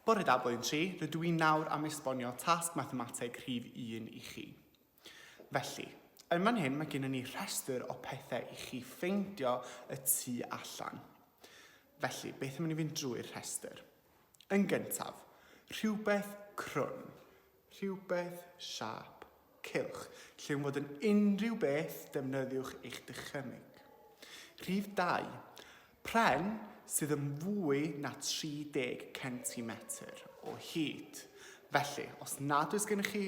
Bore da Blwyddyn 3, rydw i'n nawr am esbonio tasg mathemateg rhif 1 i chi. Felly, yn fan hyn mae gennym ni rhestr o pethau i chi ffeindio y tu allan. Felly, beth yn mynd i fynd drwy'r rhestr? Yn gyntaf, rhywbeth crwn. Rhywbeth siâp, cylch, lle yw'n fod yn unrhyw beth defnyddiwch eich dychymyg. Rhif 2, pren sydd yn fwy na 30 centimetr o hyd. Felly, os nad oes gennych chi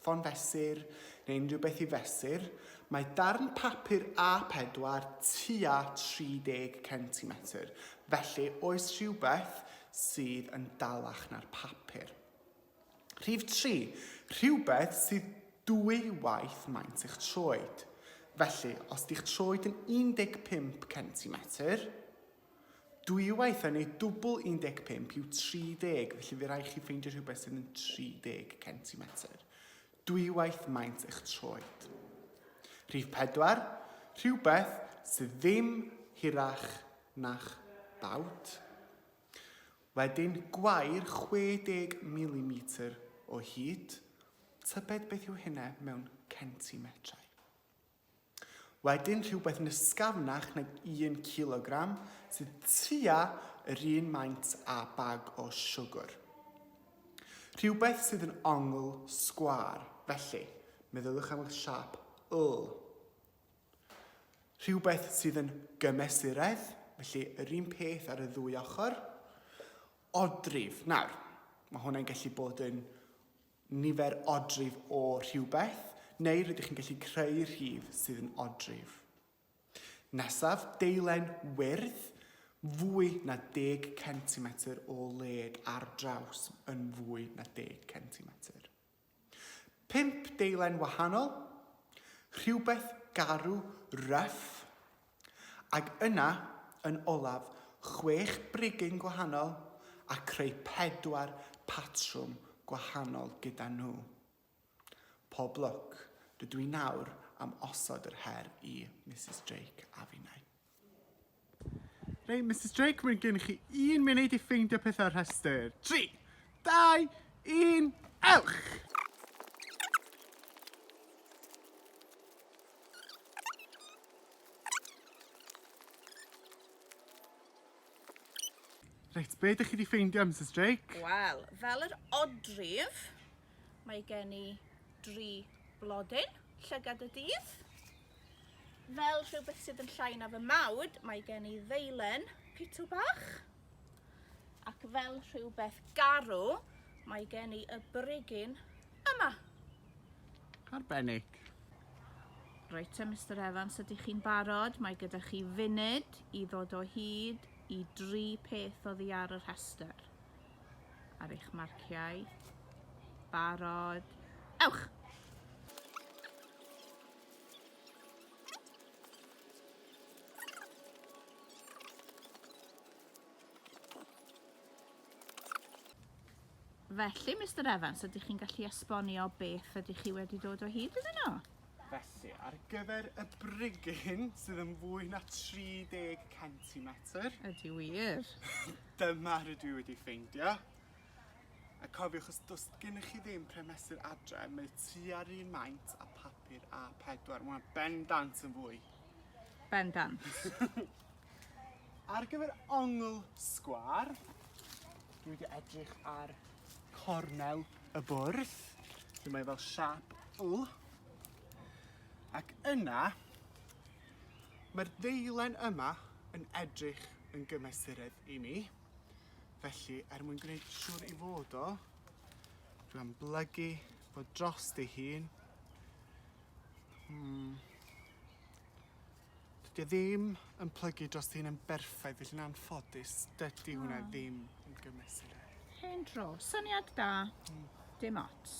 ffon fesur neu unrhyw beth i fesur, mae darn papur A4 tua 30 centimetr, felly oes rhywbeth sydd yn dalach na'r papur. Rhif tri, rhywbeth sydd dwy waith maint eich troed. Felly, os di'ch troed yn 15 centimetr, dwywaith hynny, dwbl 15 yw 30, felly fe rai chi ffeindio rhywbeth sydd yn 30 centimetr. Dwywaith maint eich troed. Rhif pedwar, rhywbeth sydd ddim hirach na'ch bawd. Wedyn, gwair 60 milimetr o hyd, tybed beth yw hynna mewn centimetrau? Wedyn, rhywbeth yn ysgafnach nag un cilogram, sydd tua yr un maint â bag o siwgr. Rhywbeth sydd yn ongl sgwâr, felly, meddyliwch am y siâp L. Rhywbeth sydd yn gymesuredd, felly yr un peth ar y ddwy ochr. Odrif. Nawr, mae hwnna'n gallu bod yn nifer odrif o rhywbeth, neu rydych chi'n gallu creu rhif sydd yn odrif. Nesaf, deilen wyrdd, fwy na 10 cm o led ar draws yn fwy na 10 cm. Pump deilen wahanol, rhywbeth garw ryff, ag yna, yn olaf, chwech brigyn gwahanol a creu pedwar patrwm gwahanol gyda nhw. Pob lwc, rydw i nawr am osod yr her i Misus Drake a finnau. Reit, Mrs Drake, mae gen chi un munud i ffeindio pethau'r rhestr. 3, 2, 1, ewch! Reit, be ydych chi wedi ffeindio, Mrs Drake? Wel, fel yr odrif, Mae gen i dri blodyn, llygad y dydd. Fel rhywbeth sydd yn llai na fy mawd, mae gen i ddeilen pitw bach. Ac fel rhywbeth garw, mae gen i y brigyn yma. Arbennig. Reit te, Mr Evans, ydych chi'n barod? Mae gyda chi funud i ddod o hyd i dri peth oddi ar y rhestr. ar eich marciau. Barod. Ewch! Felly, Mr Evans, ydych chi'n gallu esbonio beth ydych chi wedi dod o hyd iddyn nhw? Felly, ar gyfer y brigyn sydd yn fwy na 30 centimetr... Ydy wir. Dyma rydw i wedi ffeindio. A cofiwch, os does gennych chi ddim pren mesur adre, mae tua'r un maint a papur A4. Mae ben dant yn fwy. Ben dant. Ar gyfer ongl sgwar, dwi wedi edrych ar cornel y bwrdd, lle mae fel siap L. Ac yna, Mae'r ddeilen yma yn edrych yn gymesuredd i mi, felly er mwyn gwneud siŵr i fod o, dwi'n amblygu fo dros ei hun. Hmm. Dydy e ddim yn plygu dros ei hun yn berffaith, felly yn anffodus, dydy hwnna hmm. ddim yn gymesuredd. Hen dro, syniad da, hmm. dim ots.